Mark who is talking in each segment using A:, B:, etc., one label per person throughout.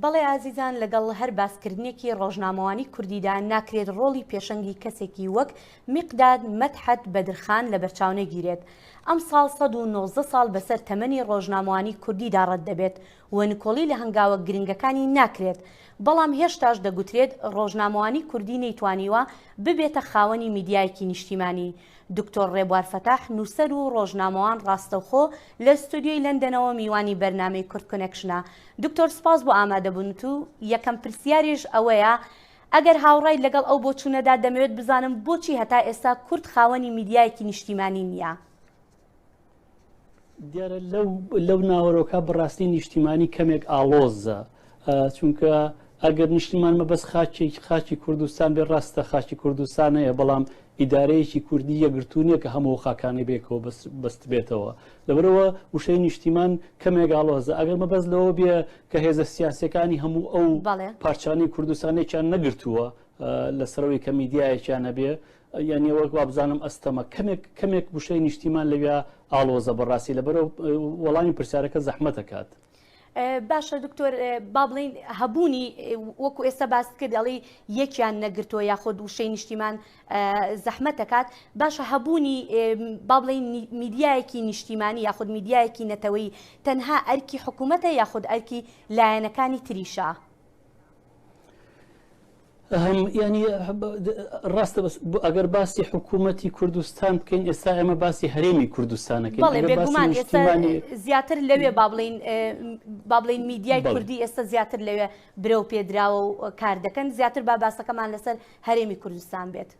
A: بەڵێ ئازیزان لەگەڵ هەر باسکردنێکی ڕۆژنامەوانی کوردیدا ناکرێت ڕۆڵی پێشەنگی کەسێکی وەک میقداد مەتحەت بەدرخان لە بەرچاونەگیرێت ئەم ساڵ 1990 ساڵ بەسەر تەمەنی ڕۆژنامەوانی کوردیدا ڕەت دەبێت و نکۆڵی لە هەنگاوە گرنگەکانی ناکرێت، بەڵام هێشتاش دەگوترێت ڕۆژنامەوانی کوردی نەیتوانیوە ببێتە خاوەنی میدیایەکی نیشتیمانی. دکتۆر ڕێبوار فەتاح نووسەر و ڕۆژنامەوان ڕاستەوخۆ لە ستۆدیۆی لەندەنەوە میوانی بەرنامەی کورد کۆنێکشنە. دکتۆر سپاس بۆ ئامادەبوونت و یەکەم پرسیاریش ئەوەیە ئەگەر هاوڕایت لەگەڵ ئەو بۆچوونەدا دەمەوێت بزانم بۆچی هەتا ئێستا کورد خاوەنی میدیایەکی نیشتیمانی نییە؟
B: دیارە لەو ناوەرۆکە بڕاستی نیشتیمانی کەمێک ئاڵۆزە چونکە ئەگەر نیشتیمان مەبەست خاچی خاچی کوردستان بێ ڕاستە خاچی کوردستان هەیە بەڵام ئیدارەیەکی کوردی یەگرتوونیە کە هەموو خاکانی بێکەوە بەست بێتەوە لەبەرەوە وشەی نیشتیمان کەمێگاڵۆزە ئەگەر مەبەست لەوە بێ کە هێزە سیاسەکانی هەموو ئەو پارچانی کوردستانێکیان نەگرتووە لە سەرەوەی کە میدیایەکیان هەبێ یانە وەک وابزانم ئەستەمە کەمێک کەمێک وشەی نیشتیمان لەویا ئاڵۆزە بەڕاستی لەبەرو وەڵامی پرسیارەکە زەحمەتەکات. باشە
A: دکتۆر با بڵین هەبوونی وەکو ئێستا باس کردڵی یەکیان نەگرتووە یاخۆد وشەی نیشتیمان زەحمە دەکات باشە هەبوونی با بڵین میدیایەکی نیشتیمانی یاخود میدیایەکی نەتەوەی تەنها ئەرکی حکوومەتە یاخود ئەرکی لایەنەکانی تریشە.
B: هەم یانی ڕاستە بەس ئەگەر باسی حکوومەتی کوردستان بکەین ئێستا ئێمە باسی هەرێمی کوردستانەکەین
A: زیاتر لەوێ بابلین بابلین میدیای کوردی ئێستا زیاتر لەوێ برە و پێدراوە و کار دەکەن زیاتر با باسەکەمان لەسەر هەرێمی کوردستان بێت.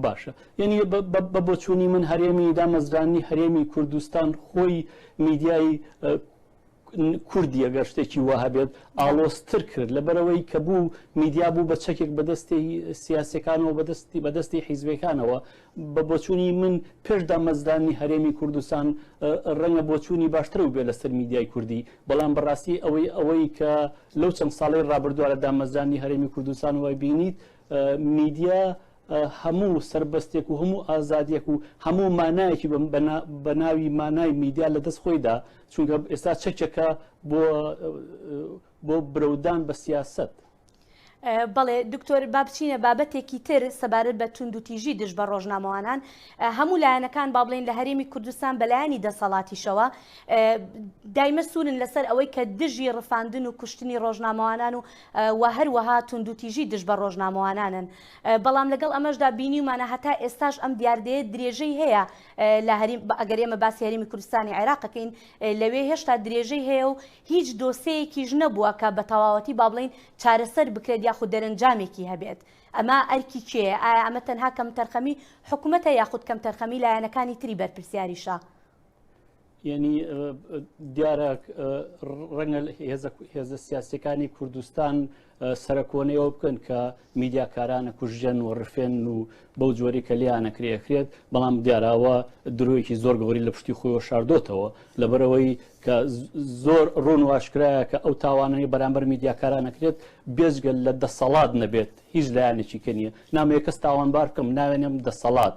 A: باشە
B: یعنی بە بۆچوونی من هەرێمی دامەزرانی هەرێمی کوردستان خۆی میدیای کوردی ئەگەر شتێکی وە هەبێت ئاڵۆستر کرد لەبەرەوەی کە بوو میدیا بوو بە چەکێک بەدەستی سیاسەکانەوە بەدەستی بەدەستی حیزبەکانەوە بە بۆچوونی من پێش دامەزرانی هەرێمی کوردستان ڕەنگە بۆچوونی باشتر و بێ لەسەر میدیای کوردی بەڵام بەڕاستی ئەوەی ئەوەی کە لەو چەند ساڵی ڕابردووە لە دامەزرانی هەرێمی کوردستان وای بینیت میدیا هەموو سربەستێک و هەموو ئازادیەک و هەموو مانایەکی بە ناوی مانای میدیا لە دەست خۆیدا چونکە ئێستا چەکێکە بۆ بۆ برەودان بە سیاست.
A: بەڵێ دکتۆر با بچینە بابەتێکی تر سەبارەت بە تونند و تیژی دژ بە ڕۆژنامەوانان هەموو لایەنەکان با بڵین لە هەرێمی کوردستان بەلایانی دەسەڵاتیشەوە دایمە سوورن لەسەر ئەوەی کە دژی ڕفاندن و کوشتنی ڕۆژنامەوانان و و هەروەها تونند و تیژی دژ بە ڕۆژنامەوانانن بەڵام لەگەڵ ئەمەشدا بینیمانە هەتا ئێستاش ئەم دیاردەیە درێژەی هەیە لە هەریم ئەگەر ئێمە باسی هەرێمی کوردستانی عێراق بکەین لەوێ هێشتا درێژەی هەیە و هیچ دۆسەیەکیش نەبووە کە بە تەواوەتی با بڵین چارەسەر بکرێت یاخود دەرەنجامێکی هەبێت ئەمە ئەرکی کێ ئایا ئەمە تەنها کەم تەرخەمی حکوومەتە یاخود کەم تەرخەمی لایەنەکانی تری بەرپرسیاریشە
B: یعنی دیارە ڕەنگە هێزە سیاسەکانی کوردستان سەرکۆنەوە بکەن کە میدیاکارانە کوژژەن و ڕفێن و بەو جۆری کە لیانە کرێخرێت بەڵام دیاراوە درۆیەکی زۆر گەوری لە پشتی خۆی شاردۆتەوە لەبەرەوەی کە زۆر ڕوون واشکرایە کە ئەو تاوانەی بەرامبەر میدیاکارانەکرێت بێزگەل لە دەسەڵات نەبێت هیچ لایەنێکی کە نیە نامەیە کەس تاوانبار بکەم ناوێنم دەسەڵات.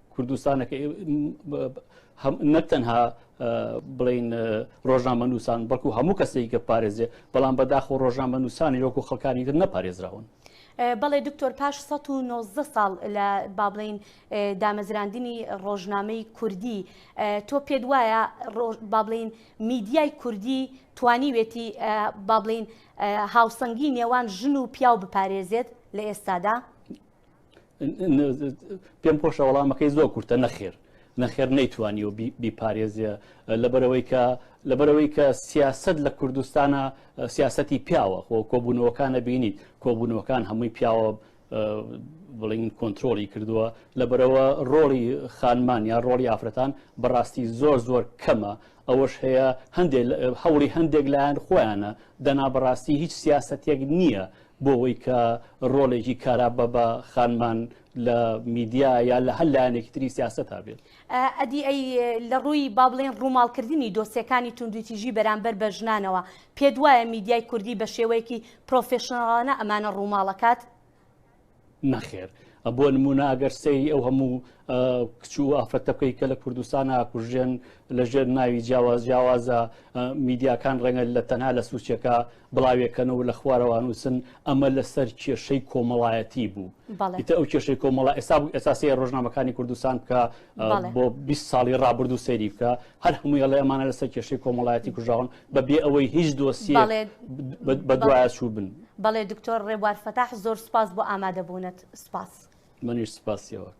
B: کوردستانەکە نەک تەنها بڵین ڕۆژنامە نووسان بەڵکو هەموو کەسێک گە پارێزێ بەڵام بەداخ و ڕۆژنامە نووسانی وەکو خەکانی تر نەپارێزراون. بەڵێ
A: دکتۆر پاش 1990 ساڵ لە بابلین دامەزراندنی ڕۆژنامەی کوردی تۆ پێت وایە بابلین میدیای کوردی توانیوێتی بابلین هاوسەنگی نێوان ژن و پیاو بپارێزێت لە ئێستادا؟
B: پێم خۆشە وەڵامەکەی زۆر کورتە نەخێر نەخێر نەیتوانی و بیپارێزیە لەبەرەوەی کە لەبەرەوەی کە سیاست لە کوردستانە سیاستی پیاوە خۆ کۆبوونەوەکانە بینیت کۆبوونەوەکان هەمووی پیاوە بڵین کۆنتترۆلی کردووە لە بەرەوە ڕۆڵی خانمان یا ڕۆڵی ئافرەتان بەڕاستی زۆر زۆر کەمە ئەوەش هەیە هەندێک هەوڵی هەندێک لایەن خۆیانە دەنا بەڕاستی هیچ سیاستێک نییە بۆ ئەوەی کە ڕۆڵێکی کارا بە بە خانمان لە میدیا یا لە هەر لایەنێکی تری سیاسەت هابێت. ئەدی ئەی
A: لە ڕووی با بڵێین ڕووماڵکردنی دۆسیەکانی توندوتیژی بەرامبەر بە ژنانەوە، پێت وایە میدیای کوردی بە شێوەیەکی پرۆفێشناڵانە ئەمانە ڕووماڵ ئەکات؟
B: نەخێر بۆ نمونە ئەگەر سەیری ئەو هەموو کچ و ئافرەتە بکەیت کە لە کوردستان ئاکوژێن لەژێر ناوی جیاواز جیاوازە میدیاکان ڕەنگە لە تەنها لە سوچەکە بڵاوێکەنەوە لە خوارەوانوسن ئەمە لەسەر کێشەی کۆمەڵایەتی بوو ئیتە ئەو کێشەی کۆمەڵە ئێستا ئێساسی ڕۆژنامەکانی کوردستان بکە بۆ 20 ساڵی ڕابردوو سەیری بکە هەر هەمووی ئەڵێ ئەمانە لەسەر کێشەی کۆمەڵایەتی کوژاون بە بێ ئەوەی هیچ دۆسیە بەدوایە چوو بن بەڵێ دکتۆر ڕێبوار
A: فەتاح زۆر
B: سپاس
A: بۆ ئامادەبوونت سپاس
B: منیش
A: سپاسیەوە.